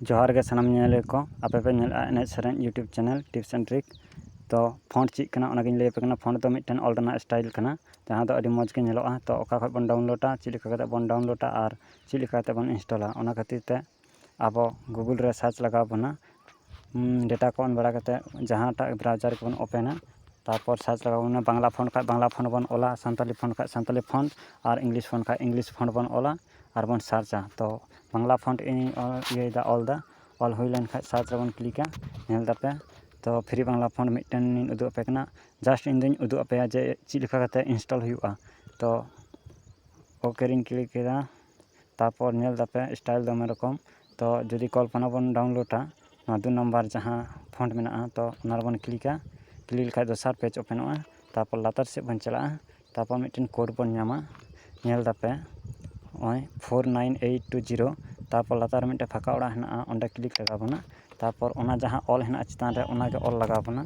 ᱡᱚᱦᱟᱨ ᱜᱮ ᱥᱟᱱᱟᱢ ᱧᱮᱧᱮᱞᱤᱭᱟᱹ ᱠᱚ ᱟᱯᱮ ᱯᱮ ᱧᱮᱞᱮᱜᱼᱟ ᱮᱱᱮᱡ ᱥᱮᱨᱮᱧ YouTube channel tips and trick ᱛᱚ ᱯᱷᱳᱱ ᱪᱮᱫ ᱠᱟᱱᱟ ᱚᱱᱟ ᱜᱮᱧ ᱞᱟᱹᱭ ᱟᱯᱮ ᱠᱟᱱᱟ ᱯᱷᱳᱱ ᱫᱚ ᱢᱤᱫᱴᱮᱱ ᱚᱞ ᱨᱮᱱᱟᱜ ᱥᱴᱟᱭᱤᱞ ᱠᱟᱱᱟ ᱡᱟᱦᱟᱸ ᱫᱚ ᱟᱹᱰᱤ ᱢᱚᱡᱽ ᱜᱮ ᱧᱮᱞᱚᱜᱼᱟ ᱛᱚ ᱚᱠᱟ ᱠᱷᱚᱡ ᱵᱚᱱ ᱰᱟᱣᱩᱱᱞᱳᱰᱟ ᱪᱮᱫ ᱞᱮᱠᱟ ᱠᱟᱛᱮ ᱵᱚᱱ ᱰᱟᱣᱩᱱᱞᱳᱰᱟ ᱟᱨ ᱪᱮᱫ ᱞᱮᱠᱟ ᱠᱟᱛᱮ ᱵᱚᱱ ᱤᱱᱥᱴᱚᱞᱟ ᱚᱱᱟ ᱠᱷᱟᱹᱛᱤᱨ ᱛᱮ ᱟᱵᱚ ᱜᱩᱜᱩᱞ ᱨᱮ ᱥᱟᱨᱪ ᱞᱟᱜᱟᱣ ᱵᱚᱱᱟ ᱰᱮᱴᱟ ᱠᱚ ᱚᱱ ᱵᱟᱲᱟ ᱠᱟᱛᱮ ᱡᱟᱦᱟᱸᱴᱟᱜ ᱵᱨᱟᱣᱡᱟᱨ ᱠᱚᱵᱚᱱ ᱳᱯᱮᱱᱟ ᱛᱟᱨᱯᱚᱨ ᱥᱟᱨᱪ ᱞᱟᱜᱟᱣ ᱵᱚᱱᱟ ᱵᱟᱝᱞᱟ ᱯᱷᱳᱱ ᱠᱷᱟᱡ ᱵᱟᱝᱞᱟ ᱯᱷᱳᱱ ᱵᱚᱱ ᱚᱞᱟ ᱥᱟᱱᱛᱟᱲᱤ ᱯᱷᱳᱱ ᱠᱷᱟᱡ ᱥᱟᱱᱛᱟᱲᱤ ᱯᱷᱳᱱ ᱟᱨ ᱤᱝᱞᱤᱥ ᱯᱷᱳᱱ ᱠᱷᱟᱡ ᱤᱝᱞᱤᱥ ᱯᱷᱳᱱ ᱵᱚᱱ ᱚᱞᱟ ᱟᱨ ᱵᱚᱱ ᱥᱟᱨᱪᱟ ᱛᱚ ᱵᱟᱝᱞᱟ ᱯᱷᱚᱱᱴ ᱤᱧ ᱤᱭᱟᱹᱭᱫᱟ ᱚᱞᱫᱟ ᱚᱞ ᱦᱩᱭ ᱞᱮᱱᱠᱷᱟᱡ ᱥᱟᱨᱪ ᱨᱮᱵᱚᱱ ᱠᱞᱤᱠᱟ ᱧᱮᱞ ᱫᱟᱯᱮ ᱛᱚ ᱯᱷᱨᱤ ᱵᱟᱝᱞᱟ ᱯᱷᱚᱱᱴ ᱢᱤᱫᱴᱮᱱ ᱤᱧ ᱩᱫᱩᱜ ᱟᱯᱮ ᱠᱟᱱᱟ ᱡᱟᱥᱴ ᱤᱧ ᱫᱚᱧ ᱩᱫᱩᱜ ᱟᱯᱮᱭᱟ ᱡᱮ ᱪᱮᱫ ᱞᱮᱠᱟ ᱠᱟᱛᱮᱫ ᱤᱱᱥᱴᱚᱞ ᱦᱩᱭᱩᱜᱼᱟ ᱛᱚ ᱳᱠᱮ ᱨᱤᱧ ᱠᱞᱤᱠ ᱠᱮᱫᱟ ᱛᱟᱨᱯᱚᱨ ᱧᱮᱞ ᱫᱟᱯᱮ ᱥᱴᱟᱭᱤᱞ ᱫᱚᱢᱮ ᱨᱚᱠᱚᱢ ᱛᱚ ᱡᱩᱫᱤ ᱠᱚᱞᱯᱚᱱᱟ ᱵᱚᱱ ᱰᱟᱣᱩᱱᱞᱳᱰᱟ ᱱᱚᱣᱟ ᱫᱩ ᱱᱟᱢᱵᱟᱨ ᱡᱟᱦᱟᱸ ᱯᱷᱚᱱᱴ ᱢᱮᱱᱟᱜᱼᱟ ᱛᱚ ᱚᱱᱟ ᱨᱮᱵᱚᱱ ᱠᱞᱤᱠᱟ ᱠᱞᱤᱠ ᱞᱮᱠᱷᱟᱡ ᱫᱚᱥᱟᱨ ᱯᱮᱡᱽ ᱳᱯᱮᱱᱚᱜᱼᱟ ᱛᱟᱨᱯᱚᱨ ᱞᱟᱛᱟᱨ ᱥᱮᱫ ᱵᱚᱱ ᱪᱟᱞᱟᱜᱼᱟ ᱛᱟᱨᱯᱚᱨ ᱢᱤᱫᱴᱮᱱ ᱠᱳᱰ ᱵᱚᱱ ᱧᱟᱢᱟ ᱧᱮᱞ ᱫᱟᱯᱮ ᱱᱚᱜᱼᱚᱭ four nine eight two zero ᱛᱟᱨᱯᱚᱨ ᱞᱟᱛᱟᱨ ᱨᱮ ᱢᱤᱫᱴᱮᱱ ᱯᱷᱟᱸᱠᱟ ᱚᱲᱟᱜ ᱦᱮᱱᱟᱜᱼᱟ ᱚᱸᱰᱮ ᱠᱞᱤᱠ ᱞᱟᱜᱟᱣ ᱵᱚᱱᱟ ᱛᱟᱨᱯᱚᱨ ᱚᱱᱟ ᱡᱟᱦᱟᱸ ᱚᱞ ᱦᱮᱱᱟᱜᱼᱟ ᱪᱮᱛᱟᱱ ᱨᱮ ᱚᱱᱟᱜᱮ ᱚᱞ ᱞᱟᱜᱟᱣ ᱵᱚᱱᱟ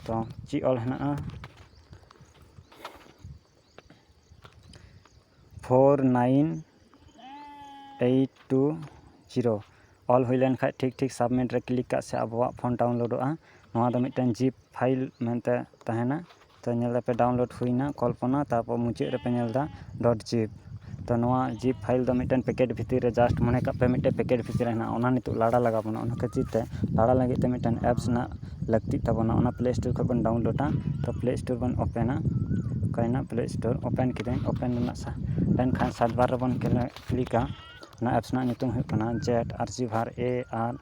ᱛᱚ ᱪᱮᱫ ᱚᱞ ᱦᱮᱱᱟᱜᱼᱟ four nine eight two zero ᱚᱞ ᱦᱩᱭ ᱞᱮᱱᱠᱷᱟᱱ ᱴᱷᱤᱠ ᱴᱷᱤᱠ ᱥᱟᱵᱽᱢᱤᱴ ᱨᱮ ᱠᱞᱤᱠ ᱠᱟᱜ ᱥᱮ ᱟᱵᱚᱣᱟᱜ ᱯᱷᱳᱱ ᱰᱟᱣᱩᱱᱞᱳᱰᱚᱜᱼᱟ ᱱᱚᱣᱟ ᱫᱚ ᱢᱤᱫᱴᱮᱱ ᱡᱤᱯ ᱯᱷᱟᱭᱤᱞ ᱢᱮᱱᱛᱮ ᱛᱟᱦᱮᱱᱟ ᱛᱚ ᱧᱮᱞ ᱫᱟᱯᱮ ᱰᱟᱣᱩᱱᱞᱳᱰ ᱦᱩᱭᱱᱟ ᱠᱚᱞᱯᱚᱱᱟ ᱛᱟᱨᱯᱚᱨ ᱢᱩᱪᱟᱹᱫ ᱨᱮᱯᱮ ᱧᱮᱞ ᱮᱫᱟ ᱰᱚᱴ ᱡᱤᱯ ᱛᱚ ᱱᱚᱣᱟ ᱡᱤᱯ ᱯᱷᱟᱭᱤᱞ ᱫᱚ ᱢᱤᱫᱴᱮᱱ ᱯᱮᱠᱮᱴ ᱵᱷᱤᱛᱤᱨ ᱨᱮ ᱡᱟᱥᱴ ᱢᱚᱱᱮ ᱠᱟᱜ ᱯᱮ ᱢᱤᱫᱴᱮᱱ ᱯᱮᱠᱮᱴ ᱵᱷᱤᱛᱤᱨ ᱨᱮ ᱦᱮᱱᱟᱜᱼᱟ ᱚᱱᱟ ᱱᱤᱛᱚᱜ ᱞᱟᱲᱟ ᱞᱟᱜᱟᱣ ᱵᱚᱱᱟ ᱚᱱᱟ ᱠᱷᱟᱹᱛᱤᱨ ᱛᱮ ᱞᱟᱲᱟ ᱞᱟᱹᱜᱤᱫ ᱛᱮ ᱢᱤᱫᱴᱮᱱ ᱮᱯᱥ ᱨᱮᱱᱟᱜ ᱞᱟᱹᱠᱛᱤᱜ ᱛᱟᱵᱚᱱᱟ ᱚᱱᱟ ᱯᱞᱮ ᱥᱴᱳᱨ ᱠᱷᱚᱱ ᱵᱚᱱ ᱰᱟᱣᱩᱱᱞᱳᱰᱟ ᱛᱚ ᱯᱞᱮ ᱥᱴᱳᱨ ᱵᱚᱱ ᱳᱯᱮᱱᱟ ᱚᱠᱟᱭᱮᱱᱟ ᱯᱞᱮ ᱥᱴᱳᱨ ᱳᱯᱮᱱ ᱠᱤᱫᱟᱹᱧ ᱳᱯᱮᱱ ᱨᱮᱱᱟᱜ ᱥᱟ ᱳᱯᱮᱱ ᱠᱷᱟᱱ ᱥᱟᱨᱪ ᱵᱟᱨ ᱨᱮᱵᱚᱱ ᱠᱞᱤᱠᱟ ᱚᱱᱟ ᱮᱯᱥ ᱨᱮᱱᱟᱜ ᱧᱩᱛᱩᱢ ᱦᱩᱭᱩᱜ ᱠᱟᱱᱟ ᱡᱮᱴ ᱟᱨᱪᱤᱵᱷᱟᱨ ᱮ ᱟᱨ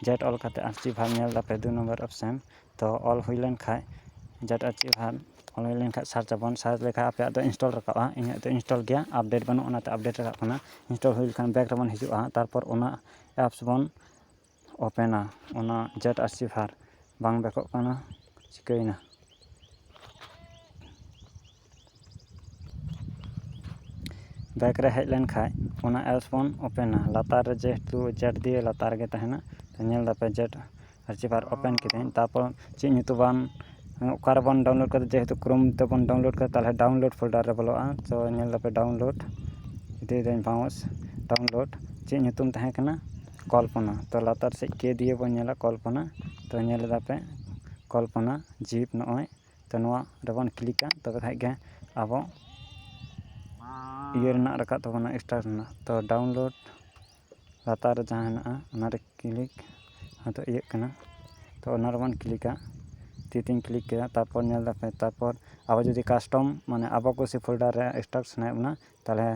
ᱡᱮᱴ ᱚᱞ ᱠᱟᱛᱮᱫ ᱟᱨᱪᱤᱵᱷᱟᱨ ᱧᱮᱞ ᱫᱟᱯᱮ ᱫᱩ ᱱᱚᱢᱵᱚᱨ ᱚᱯᱷᱥᱮᱱ ᱛᱚ ᱚᱞ ᱦᱩᱭ ᱞᱮᱱ ᱠᱷᱟᱡ ᱡᱟᱛᱮ ᱟᱨ ᱪᱮᱫ ᱦᱚᱸ ᱚᱞ ᱦᱩᱭ ᱞᱮᱱ ᱠᱷᱟᱡ ᱥᱟᱨᱪ ᱟᱵᱚᱱ ᱥᱟᱨᱪ ᱞᱮᱠᱷᱟᱡ ᱟᱯᱮᱭᱟᱜ ᱫᱚ ᱤᱱᱥᱴᱚᱞ ᱨᱟᱠᱟᱵᱼᱟ ᱤᱧᱟᱹᱜ ᱫᱚ ᱤᱱᱥᱴᱚᱞ ᱜᱮᱭᱟ ᱟᱯᱰᱮᱴ ᱵᱟᱹᱱᱩᱜᱼᱟ ᱚᱱᱟᱛᱮ ᱟᱯᱰᱮᱴ ᱨᱟᱠᱟᱵ ᱠᱟᱱᱟ ᱤᱱᱥᱴᱚᱞ ᱦᱩᱭ ᱞᱮᱠᱷᱟᱱ ᱵᱮᱠ ᱨᱮᱵᱚᱱ ᱦᱤᱡᱩᱜᱼᱟ ᱛᱟᱨᱯᱚᱨ ᱚᱱᱟ ᱮᱯᱥ ᱵᱚᱱ ᱳᱯᱮᱱᱟ ᱚᱱᱟ ᱡᱮᱴ ᱟᱨᱥᱤᱵᱷᱟᱨ ᱵᱟᱝ ᱵᱮᱠᱚᱜ ᱠᱟᱱᱟ ᱪᱤᱠᱟᱹᱭᱮᱱᱟ ᱵᱮᱠ ᱨᱮ ᱦᱮᱡ ᱞᱮᱱᱠᱷᱟᱡ ᱚᱱᱟ ᱮᱯᱥ ᱵᱚᱱ ᱳᱯᱮᱱᱟ ᱞᱟᱛᱟᱨ ᱨᱮ ᱡᱮᱦᱮᱛᱩ ᱪᱮᱴ ᱫᱤᱭᱮ ᱞᱟᱛᱟᱨ ᱨᱮᱜᱮ ᱛᱟᱦᱮᱱᱟ ᱧᱮᱞ ᱫᱟᱯᱮ ᱪᱮᱴ ᱟᱨᱪᱤᱵᱷᱟᱨ ᱳᱯᱮᱱ ᱠᱤᱫᱟᱹᱧ ᱛᱟᱨᱯᱚᱨ ᱪᱮᱫ ᱧᱩᱛᱩᱢ ᱵᱟᱝ ᱚᱠᱟ ᱨᱮᱵᱚᱱ ᱰᱟᱣᱩᱱᱞᱳᱰ ᱠᱟᱫᱟ ᱡᱮᱦᱮᱛᱩ ᱠᱨᱳᱢ ᱛᱮᱵᱚᱱ ᱰᱟᱣᱩᱱᱞᱳᱰ ᱠᱟᱫᱟ ᱛᱟᱦᱚᱞᱮ ᱰᱟᱣᱩᱱᱞᱳᱰ ᱯᱷᱳᱞᱰᱟᱨ ᱨᱮ ᱵᱚᱞᱚᱜᱼᱟ ᱛᱚ ᱧᱮᱞ ᱫᱟᱯᱮ ᱰᱟᱣᱩᱱᱞᱳᱰ ᱤᱫᱤᱭᱮᱫᱟᱹᱧ ᱵᱟᱣᱩᱱᱥ ᱰᱟᱣᱩᱱᱞᱳᱰ ᱪᱮᱫ ᱧᱩᱛᱩᱢ ᱛᱟᱦᱮᱸ ᱠᱟᱱᱟ ᱠᱚᱞᱯᱚᱱᱟ ᱛᱚ ᱞᱟᱛᱟᱨ ᱥᱮᱡ ᱠᱮ ᱫᱤᱭᱮ ᱵᱚᱱ ᱧᱮᱞᱟ ᱠᱚᱞᱯᱚᱱᱟ ᱛᱚ ᱧᱮᱞ ᱫᱟᱯᱮ ᱠᱚᱞᱯᱚᱱᱟ ᱡᱤᱯ ᱱᱚᱜᱼᱚᱭ ᱛᱚ ᱱᱚᱣᱟ ᱨᱮᱵᱚᱱ ᱠᱞᱤᱠᱟ ᱛᱚᱵᱮ ᱠᱷᱟᱱ ᱜᱮ ᱟᱵᱚ ᱤᱭᱟᱹ ᱨᱮᱱᱟᱜ ᱨᱟᱠᱟᱵ ᱛᱟᱵᱚᱱᱟ ᱥᱴᱟᱨᱴ ᱨᱮᱱᱟᱜ ᱛᱚ ᱰᱟᱣᱩᱱᱞᱳᱰ ᱞᱟᱛᱟᱨ ᱨᱮ ᱡᱟᱦᱟᱸ ᱦᱮᱱᱟᱜᱼᱟ ᱚᱱᱟᱨᱮ ᱠᱞᱤᱠ ᱟᱫᱚ ᱤᱭᱟᱹᱜ ᱠᱟᱱᱟ ᱛᱚ ᱚᱱᱟ ᱨᱮᱵᱚᱱ ᱠᱞᱤᱠᱟ ᱛᱤ ᱛᱤᱧ ᱠᱞᱤᱠ ᱠᱮᱫᱟ ᱛᱟᱨᱯᱚᱨ ᱧᱮᱞ ᱫᱟᱯᱮ ᱛᱟᱨᱯᱚᱨ ᱟᱵᱚ ᱡᱩᱫᱤ ᱠᱟᱥᱴᱚᱢ ᱢᱟᱱᱮ ᱟᱵᱚ ᱠᱩᱥᱤ ᱯᱷᱳᱞᱰᱟᱨ ᱨᱮ ᱥᱴᱟᱨᱴ ᱥᱟᱱᱟᱭᱮᱫ ᱵᱚᱱᱟ ᱛᱟᱦᱚᱞᱮ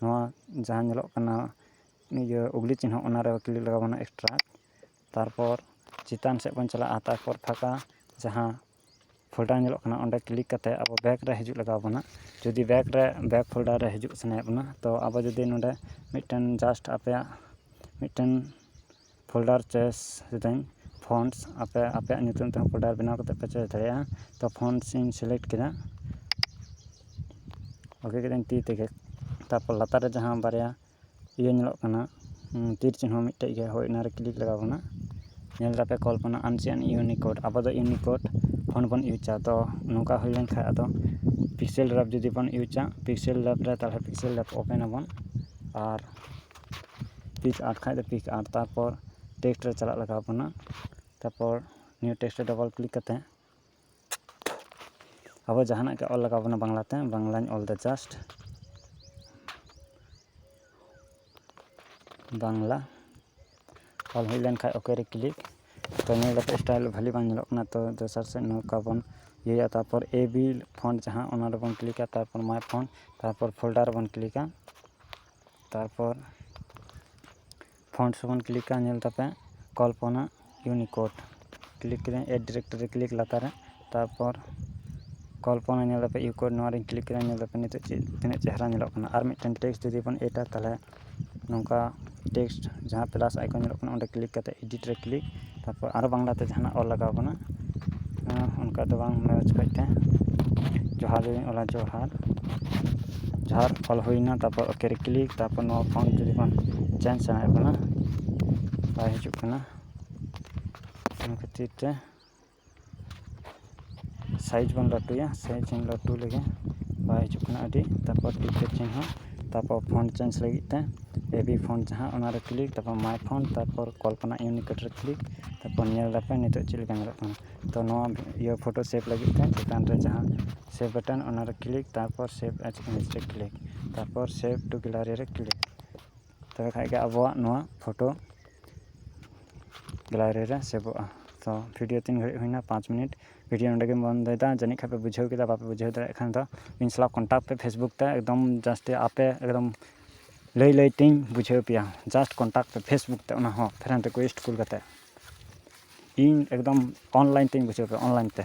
ᱱᱚᱣᱟ ᱡᱟᱦᱟᱸ ᱧᱮᱞᱚᱜ ᱠᱟᱱᱟ ᱤᱭᱟᱹ ᱩᱜᱽᱞᱤ ᱪᱤᱱᱦᱟᱹ ᱚᱱᱟᱨᱮ ᱠᱞᱤᱠ ᱞᱟᱜᱟᱣ ᱵᱚᱱᱟ ᱥᱴᱟᱨᱴ ᱛᱟᱨᱯᱚᱨ ᱪᱮᱛᱟᱱ ᱥᱮᱫ ᱵᱚᱱ ᱪᱟᱞᱟᱜᱼᱟ ᱛᱟᱨᱯᱚᱨ ᱯᱷᱟᱸᱠᱟ ᱡᱟᱦᱟᱸ ᱯᱷᱳᱞᱰᱟᱨ ᱧᱮᱞᱚᱜ ᱠᱟᱱᱟ ᱚᱸᱰᱮ ᱠᱞᱤᱠ ᱠᱟᱛᱮᱫ ᱟᱵᱚ ᱵᱮᱠ ᱨᱮ ᱦᱤᱡᱩᱜ ᱞᱟᱜᱟᱣ ᱵᱚᱱᱟ ᱡᱩᱫᱤ ᱵᱮᱠ ᱨᱮ ᱵᱮᱠ ᱯᱷᱳᱞᱰᱟᱨ ᱨᱮ ᱦᱤᱡᱩᱜ ᱥᱟᱱᱟᱭᱮᱫ ᱵᱚᱱᱟ ᱛᱚ ᱟᱵᱚ ᱡᱩᱫᱤ ᱱᱚᱸᱰᱮ ᱢᱤᱫᱴᱮᱱ ᱡᱟᱥᱴ ᱟᱯᱮᱭᱟᱜ ᱢᱤᱫᱴᱮᱱ ᱯᱷᱳᱞᱰᱟᱨ ᱪᱚᱭᱮᱥ ᱮᱫᱟᱹᱧ ᱯᱷᱚᱱᱴᱥ ᱟᱯᱮ ᱟᱯᱮᱭᱟᱜ ᱧᱩᱛᱩᱢ ᱛᱮᱦᱚᱸ ᱯᱷᱳᱞᱰᱟᱨ ᱵᱮᱱᱟᱣ ᱠᱟᱛᱮᱫ ᱯᱮ ᱪᱚᱭᱮᱥ ᱫᱟᱲᱮᱭᱟᱜᱼᱟ ᱛᱚ ᱯᱷᱚᱱᱴᱥ ᱤᱧ ᱥᱤᱞᱮᱠᱴ ᱠᱮᱫᱟ ᱳᱠᱮ ᱠᱮᱫᱟᱹᱧ ᱛᱤ ᱛᱮᱜᱮ ᱛᱟᱨᱯᱚᱨ ᱞᱟᱛᱟᱨ ᱨᱮ ᱡᱟᱦᱟᱸ ᱵᱟᱨᱭᱟ ᱤᱭᱟᱹ ᱧᱮᱞᱚᱜ ᱠᱟᱱᱟ ᱛᱤᱨ ᱪᱤᱱᱦᱟᱹ ᱢᱤᱫᱴᱮᱡ ᱜᱮᱭᱟ ᱦᱳᱭ ᱚᱱᱟᱨᱮ ᱠᱞᱤᱠ ᱞᱟᱜᱟᱣ ᱵᱚᱱᱟ ᱧᱮᱞ ᱫᱟᱯᱮ ᱠᱚᱞᱯᱚᱱᱟ ᱟᱱᱥᱤᱭᱟᱱ ᱤᱭᱩᱱᱤᱠᱳᱰ ᱟᱵᱚ ᱫᱚ ᱤᱭᱩᱱᱤᱠᱳᱰ ᱯᱷᱳᱱ ᱵᱚᱱ ᱤᱭᱩᱡᱟ ᱛᱚ ᱱᱚᱝᱠᱟ ᱦᱩᱭ ᱞᱮᱱᱠᱷᱟᱡ ᱟᱫᱚ ᱯᱤᱠᱥᱮᱞ ᱞᱮᱵ ᱡᱩᱫᱤ ᱵᱚᱱ ᱤᱭᱩᱡᱟ ᱯᱤᱠᱥᱮᱞ ᱞᱮᱵ ᱨᱮ ᱛᱟᱦᱚᱞᱮ ᱯᱤᱠᱥᱮᱞ ᱞᱮᱵ ᱳᱯᱮᱱ ᱟᱵᱚᱱ ᱟᱨ ᱯᱤᱠ ᱟᱨᱴ ᱠᱷᱟᱡ ᱫᱚ ᱯᱤᱠ ᱟᱨᱴ ᱛᱟᱨᱯᱚᱨ ᱴᱮᱠᱥᱴ ᱨᱮ ᱪᱟᱞᱟᱜ ᱞᱟᱜᱟᱣ ᱵᱚᱱᱟ ᱛᱟᱨᱯᱚᱨ ᱱᱤᱭᱩ ᱴᱮᱠᱥᱴ ᱨᱮ ᱰᱚᱵᱚᱞ ᱠᱞᱤᱠ ᱠᱟᱛᱮᱫ ᱟᱵᱚ ᱡᱟᱦᱟᱱᱟᱜ ᱜᱮ ᱚᱞ ᱞᱟᱜᱟᱣ ᱵᱚᱱᱟ ᱵᱟᱝᱞᱟᱛᱮ ᱵᱟᱝᱞᱟᱧ ᱚᱞᱫᱟ ᱡᱟᱥᱴ ᱵᱟᱝᱞᱟ ᱚᱞ ᱦᱩᱭ ᱞᱮᱱᱠᱷᱟᱡ ᱳᱠᱮ ᱨᱮ ᱠᱞᱤᱠ ᱛᱚ ᱧᱮᱞ ᱠᱟᱛᱮ ᱥᱴᱟᱭᱤᱞ ᱵᱷᱟᱹᱞᱤ ᱵᱟᱝ ᱧᱮᱞᱚᱜ ᱠᱟᱱᱟ ᱛᱚ ᱫᱚᱥᱟᱨ ᱥᱮᱫ ᱱᱚᱝᱠᱟ ᱵᱚᱱ ᱤᱭᱟᱹᱭᱟ ᱛᱟᱨᱯᱚᱨ ᱮ ᱵᱤ ᱯᱷᱚᱱᱴ ᱡᱟᱦᱟᱸ ᱚᱱᱟ ᱨᱮᱵᱚᱱ ᱠᱞᱤᱠᱟ ᱛᱟᱨᱯᱚᱨ ᱢᱟᱭ ᱯᱷᱚᱱᱴ ᱛᱟᱨᱯᱚᱨ ᱯᱷᱳᱞᱰᱟᱨ ᱨᱮᱵᱚᱱ ᱠᱞᱤᱠᱟ ᱛᱟᱨᱯᱚᱨ ᱯᱷᱚᱱᱴᱥ ᱵᱚᱱ ᱠᱞᱤᱠᱟ ᱧᱮᱞ ᱠᱟᱛᱮᱫ ᱠᱚᱞᱯᱚᱱᱟ ᱤᱭᱩᱱᱤᱠᱳᱰ ᱠᱞᱤᱠ ᱠᱮᱫᱟᱹᱧ ᱮᱰ ᱰᱤᱨᱮᱠᱴᱳᱨᱤ ᱨᱮ ᱠᱞᱤᱠ ᱞᱟᱛᱟᱨ ᱨᱮ ᱛᱟᱨᱯᱚᱨ ᱠᱚᱞᱯᱚᱱᱟ ᱧᱮᱞ ᱠᱟᱛᱮᱫ ᱤᱭᱩᱱᱤᱠᱳᱰ ᱱᱚᱣᱟ ᱨᱮᱧ ᱠᱞᱤᱠ ᱠᱮᱫᱟ ᱧᱮᱞ ᱫᱟᱯᱮ ᱱᱤᱛᱚᱜ ᱪᱮᱫ ᱛᱤᱱᱟᱹᱜ ᱪᱮᱦᱨᱟ ᱧᱮᱞᱚᱜ ᱠᱟᱱᱟ ᱟᱨ ᱢᱤᱫᱴᱮᱱ ᱴᱮᱠᱥᱴ ᱡᱩᱫᱤ ᱵᱚᱱ ᱮᱰᱟ ᱛᱟᱦᱚᱞᱮ ᱱᱚᱝᱠᱟ ᱴᱮᱠᱥᱴ ᱡᱟᱦᱟᱸ ᱯᱞᱟᱥ ᱟᱭᱠᱚᱱ ᱧᱮᱞᱚᱜ ᱠᱟᱱᱟ ᱚᱸᱰᱮ ᱠᱞᱤᱠ ᱠᱟᱛᱮᱫ ᱮᱰᱤᱴ ᱨᱮ ᱠᱞᱤᱠ ᱛᱟᱨᱯᱚᱨ ᱟᱨᱚ ᱵᱟᱝᱞᱟ ᱛᱮ ᱡᱟᱦᱟᱱᱟᱜ ᱚᱞ ᱞᱟᱜᱟᱣ ᱠᱟᱱᱟ ᱚᱱᱠᱟ ᱫᱚ ᱵᱟᱝ ᱢᱚᱡᱽ ᱚᱠᱚᱡ ᱛᱮ ᱡᱚᱦᱟᱨ ᱜᱮᱞᱤᱧ ᱚᱞᱟ ᱡᱚᱦᱟᱨ ᱡᱚᱦᱟᱨ ᱚᱞ ᱦᱩᱭᱱᱟ ᱛᱟᱨᱯᱚᱨ ᱳᱠᱮ ᱨᱮ ᱠᱞᱤᱠ ᱛᱟᱨᱯᱚᱨ ᱱᱚᱣᱟ ᱯᱷᱚᱱᱴ ᱡᱩᱫᱤ ᱵᱚᱱ ᱪᱮᱧᱡᱽ ᱥᱟᱱᱟᱭᱮᱫ ᱵᱚᱱᱟ ᱵᱟᱭ ᱦᱤᱡᱩᱜ ᱠᱟᱱᱟ ᱚᱱᱟ ᱠᱷᱟᱹᱛᱤᱨ ᱛᱮ ᱥᱟᱭᱤᱡᱽ ᱵᱚᱱ ᱞᱟᱹᱴᱩᱭᱟ ᱥᱟᱭᱤᱡᱽ ᱵᱚᱱ ᱞᱟᱹᱴᱩ ᱞᱮᱠᱷᱟᱱ ᱵᱟᱭ ᱦᱤᱡᱩᱜ ᱠᱟᱱᱟ ᱟᱹᱰᱤ ᱛᱟᱨᱯᱚᱨ ᱴᱤᱠᱪᱟᱨ ᱪᱮᱧᱡᱽ ᱦᱚᱸ ᱛᱟᱨᱯᱚᱨ ᱯᱷᱳᱱ ᱪᱮᱧᱡᱽ ᱞᱟᱹᱜᱤᱫ ᱛᱮ ᱮᱵᱤ ᱯᱷᱳᱱ ᱡᱟᱦᱟᱸ ᱚᱱᱟᱨᱮ ᱠᱞᱤᱠ ᱛᱟᱨᱯᱚᱨ ᱢᱟᱭ ᱯᱷᱳᱱ ᱛᱟᱨᱯᱚᱨ ᱠᱚᱞᱯᱚᱱᱟ ᱤᱭᱩᱱᱤᱠᱳᱰ ᱨᱮ ᱠᱞᱤᱠ ᱛᱟᱨᱯᱚᱨ ᱧᱮᱞ ᱫᱟᱯᱮ ᱱᱤᱛᱚᱜ ᱪᱮᱫ ᱞᱮᱠᱟ ᱧᱮᱞᱚᱜ ᱠᱟᱱᱟ ᱛᱳ ᱱᱚᱣᱟ ᱤᱭᱟᱹ ᱯᱷᱳᱴᱳ ᱥᱮᱵᱷ ᱞᱟᱹᱜᱤᱫ ᱛᱮ ᱪᱮᱛᱟᱱ ᱨᱮ ᱡᱟᱦᱟᱸ ᱥᱮᱵᱷ ᱵᱟᱴᱚᱱ ᱚᱱᱟᱨᱮ ᱠᱞᱤᱠ ᱛᱟᱨᱯᱚᱨ ᱥᱮᱵᱷ ᱮᱡᱽ ᱤᱢᱮᱡᱽ ᱨᱮ ᱠᱞᱤᱠ ᱛᱟᱨᱯᱚᱨ ᱥᱮᱵᱷ ᱴᱩ ᱜᱮᱞᱟᱨᱤ ᱨᱮ ᱠᱞᱤᱠ ᱛᱚᱵᱮ ᱠᱷᱟᱡ ᱜᱮ ᱟᱵᱚᱣᱟᱜ ᱱᱚᱣᱟ ᱯᱷᱳᱴᱳ ᱜᱮᱞᱟᱨᱤ ᱨᱮ ᱥᱮᱵᱷᱚᱜᱼᱟ ᱛᱚ ᱵᱷᱤᱰᱤᱭᱳ ᱛᱤᱱ ᱜᱷᱟᱹᱲᱤᱡ ᱦᱩᱭᱱᱟ ᱯᱟᱸᱪ ᱢᱤᱱᱤᱴ ᱵᱷᱤᱰᱤᱭᱳ ᱱᱚᱰᱮ ᱜᱮᱧ ᱵᱚᱱᱫᱚᱭᱮᱫᱟ ᱡᱟᱹᱱᱤᱡ ᱠᱷᱟᱡ ᱯᱮ ᱵᱩᱡᱷᱟᱹᱣ ᱠᱮᱫᱟ ᱵᱟᱯᱮ ᱵᱩᱡᱷᱟᱹᱣ ᱫᱟᱲᱮᱭᱟᱜ ᱠᱷᱟᱱ ᱫᱚ ᱤᱧ ᱥᱟᱞᱟᱜ ᱠᱚᱱᱴᱟᱠᱴ ᱯᱮ ᱯᱷᱮᱥᱵᱩᱠ ᱛᱮ ᱮᱠᱫᱚᱢ ᱡᱟᱹᱥᱛᱤ ᱟᱯᱮ ᱮᱠᱫᱚᱢ ᱞᱟᱹᱭ ᱞᱟᱹᱭ ᱛᱤᱧ ᱵᱩᱡᱷᱟᱹᱣ ᱯᱮᱭᱟ ᱡᱟᱥᱴ ᱠᱚᱱᱴᱟᱠᱴ ᱯᱮ ᱯᱷᱮᱥᱵᱩᱠ ᱛᱮ ᱚᱱᱟ ᱦᱚᱸ ᱯᱷᱨᱮᱱᱰ ᱨᱤᱠᱩᱭᱮᱥᱴ ᱠᱩᱞ ᱠᱟᱛᱮᱫ ᱤᱧ ᱮᱠᱫᱚᱢ ᱚᱱᱞᱟᱭᱤᱱ ᱛᱤᱧ ᱵᱩᱡᱷᱟᱹᱣ ᱯᱮᱭᱟ ᱚᱱᱞᱟᱭᱤᱱ ᱛᱮ